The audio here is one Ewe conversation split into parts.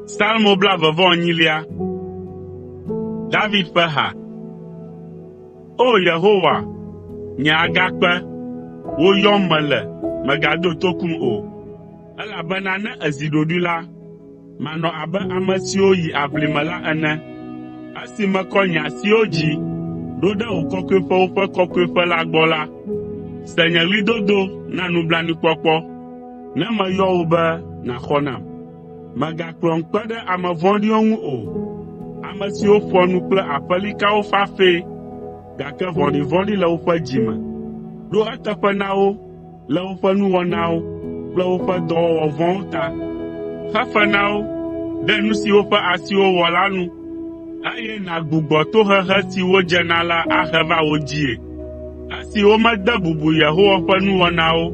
Salmo blaeve-vɔ-enyilia. David ƒe ha. O Yehowa, nye agakpe, wò yɔm mele, mègado tokum o, elabena ne èzi ɖoɖoe la, Manɔ abe ame siwo yi aʋli me la ene, esi mekɔ nye asiwo dzi ɖo ɖe wò kɔkɔeƒewo ƒe kɔkɔeƒe la gbɔ la, se nye ɣlidodo na nublanuikpɔkpɔ, ne meyɔ wò be nàxɔ nam. Mègakplɔm kpe ɖe ame vɔ̃ɖiwo ŋu o, ame siwo ƒoa nu kple aƒelikawo fafɛ, gake vɔ̃ɖivɔ̃ɖi le woƒe dzi me. Ɖo eteƒe na wo, le woƒe nuwɔnawo kple woƒe dɔwɔwɔ vɔ̃wo ta. Xe fe na wo ɖe nu si woƒe asiwo wɔ la nu, eye nàgbugbɔ tohehe si wodze na la ahe va wo dzii, esi womede bubu Yehowa ƒe nuwɔnawo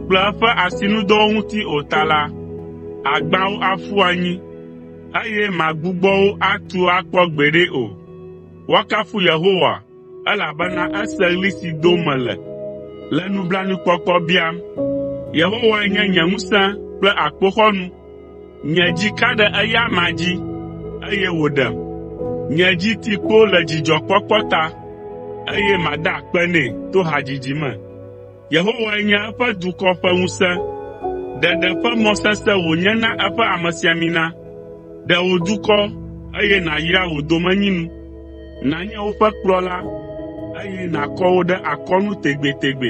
kple eƒe asinudɔwo ŋuti o ta la, àgbã wo aƒu anyi, eye màgbugbɔ wo atu akpɔ gbeɖe o. Woakafu Yehowa Elabena ese ɣli si dom mele, le nublanuikpɔkpɔ biam. Yehowae nye nye ŋusẽ kple akpoxɔnu. Nye dzi ka ɖe eya amea dzi, eye wòɖem. Nye dzi ti kpo le dzidzɔkpɔkpɔ ta, eye mada akpe nɛ to hadzidzi me. Yehowae nye eƒe dukɔ ƒe ŋusẽ, ɖeɖe ƒe mɔ sesẽ wònye na eƒe amesiamina. Ɖe wò dukɔ, eye nàyra wò domenyinu. Nànye woƒe kplɔla, eye nàkɔ wo ɖe akɔnu tegbetegbe.